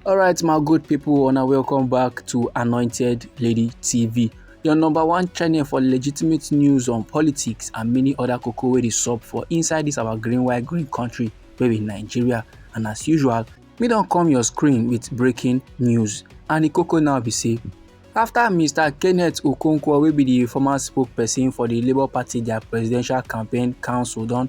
Alright, my good people, and welcome back to Anointed Lady TV. your number one channel for legitimate news on politics and many other koko wey dey sup for inside this our green white green country wey be nigeria and as usual me don come your screen with breaking news and the koko now be say after mr kenneth okonkwo wey be the former spokesperson for the labour party their presidential campaign council don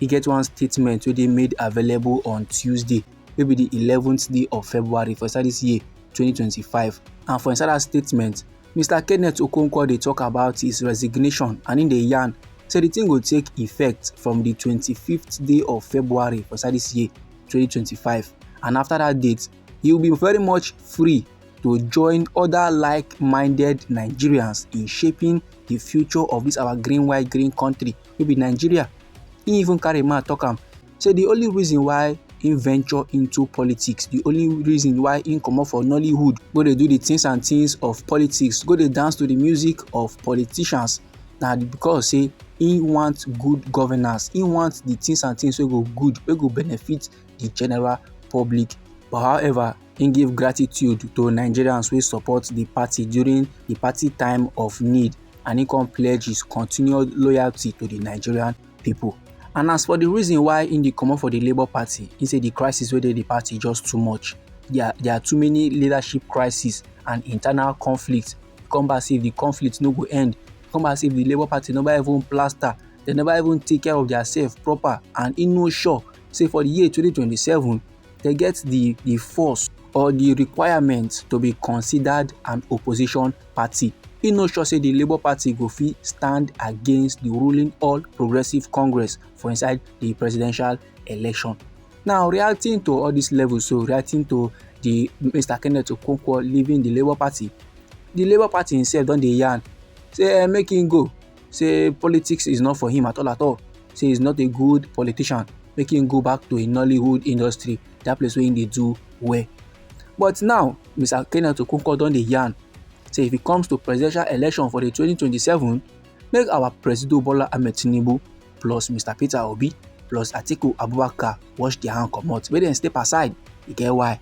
e get one statement wey dey made available on tuesday wey be di eleventh day of february for inside dis year 2025 and for inside dat statement mr kenneth okonkwo dey tok about his resignation and im dey yarn say di tin go take effect from di 25th day of february for inside dis year 2025 and afta dat date he will be very much free to join oda like-minded nigerians in shaping di future of dis our green white green kontri. wey be nigeria im even carry mouth talk am say the only reason why im venture into politics the only reason why im comot for nollywood go dey do the things and things of politics go dey dance to the music of politicians na because say im want good governance im want the things and things wey go good wey go benefit the general public but however Im give gratitude to Nigerians wey support di party during di party time of need and im come pledge his continued loyalty to di Nigerian pipo. And as for di reason why im dey comot for di Labour Party, im say di crisis wey dey di party just too much. Dia dia too many leadership crisis and internal conflict. Come back say if di conflict no go end, come back say if di Labour Party neva even plaster, dem neva even take care of diasef proper and im no sure say for di year twenty twenty seven, they get the, the force or the requirement to be considered an opposition party. He no sure say the Labour Party go fit stand against the ruling All Progressive Congress for inside the presidential election. Now, reacting to all these levels, so reacting to the Mr. Kenneth Okonkwo leaving the Labour Party, the Labour Party himself don dey yarn say eh, make him go say politics is not for him at all at all say he's not a good politician make him go back to a nollywood industry that place where they do well but now mr kenneth okonkwo don dey yarn say if it comes to presidential election for the 2027 make our presido bola ahmed tinubu plus mr peter obi plus atiku abubakar wash their hand comot make dem step aside e get why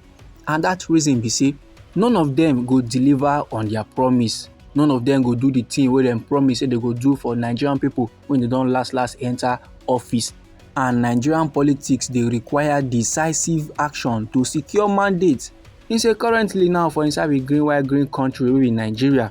and that reason be say none of them go deliver on their promise none of them go do the thing wey dem promise say they go do for nigerian people when they don last last enter office and nigerian politics dey require decisive action to secure mandate he say currently now for inside a green white green country wey be nigeria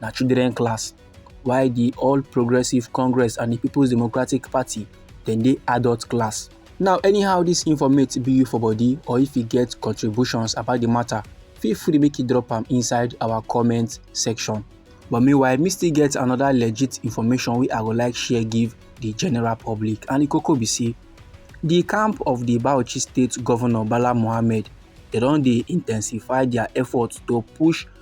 na children class while di all progressive congress and di peoples democratic party dem dey adult class now anyhow dis informate be you for body or if you get contributions about di matter feel free make you drop am inside our comment section but meanwhile me still get another legit information wey i go like share give di general public and di koko be say di camp of di bauchi state governor bala mohammed dem don dey intensify dia efforts to push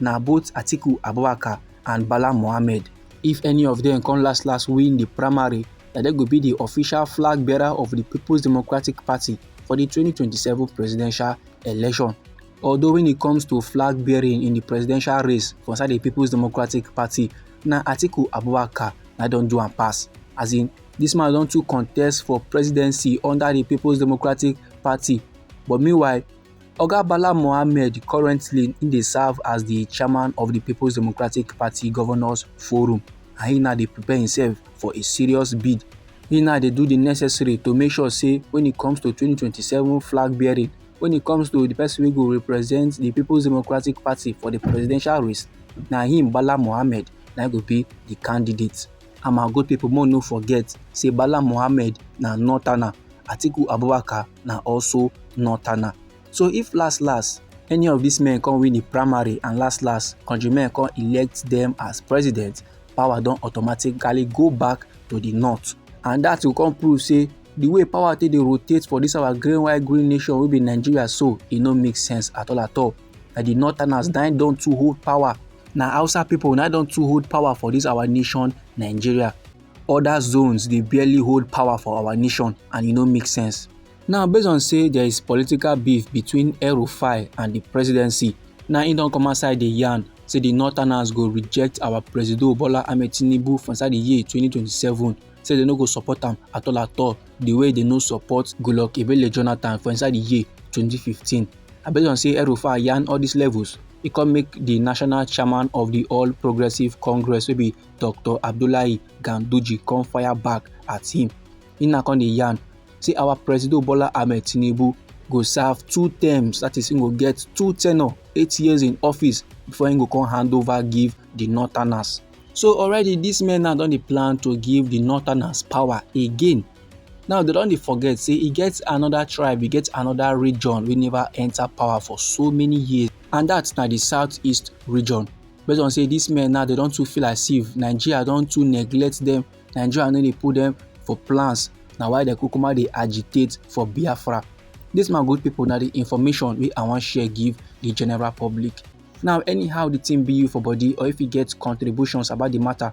na both Atiku Abubakar and Bala Mohammed. If any of them come last last win the primary, na dem go be the official flag bearer of the People's Democratic Party for the 2027 presidential election. Although when it comes to flag bearing in the presidential race for inside the People's Democratic Party, na Atiku Abubakar na don do am pass. As in, this man don too contest for presidency under the People's Democratic Party, but meanwhile, Oga Bala Mohammed currently im dey serve as di chairman of di Peoples Democratic Party Governors Forum and he now dey prepare himself for a serious bid. He now dey do the necessary to make sure say when it comes to 2027 flag bearing, when it comes to the person wey go represent the Peoples Democratic Party for the presidential race, na him Bala Mohammed na go be the candidate. And my good people, more no forget say Bala Mohammed na northerner, Atiku Abubakar na also northerner so if last last any of these men come win the primary and last last country men come elect them as president power don automatically go back to the north and that will come prove say the way power take dey rotate for this our green white green nation wey be nigeria so e no make sense at all at all na the northerners na don too hold power na hausa people na don too hold power for this our nation nigeria other zones dey barely hold power for our nation and e no make sense. Now based on say there is political beef between El Rufai and the presidency, now he don't come outside the yarn say the northerners go reject our presido Bola Ahmed Tinubu for inside the year 2027 say they no go support am at all at all the way they no support Goodluck Ebele Jonathan for inside the year 2015. I based on say El Rufai yarn all these levels, he come make the national chairman of the All Progressive Congress wey be dr abdullahi ganduje come fire back at him him na come dey yarn say our president bola ahmed tinubu go serve two terms that is he go get two tenure eight years in office before he go come hand over give the northerners so already these men now don dey plan to give the northerners power again now they don dey forget say e get another tribe e get another region wey never enter power for so many years and that na the southeast region based on say these men now they don't too feel as if nigeria don't too neglect them. nigeria no dey put them for plans Now why the kukuma they agitate for biafra This my good people now the information we i wan share give the general public now anyhow the thing be you for body or if you get contributions about the matter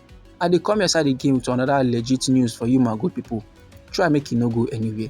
I dey come your side again with another legit news for you my good people. Try make you no go anywhere.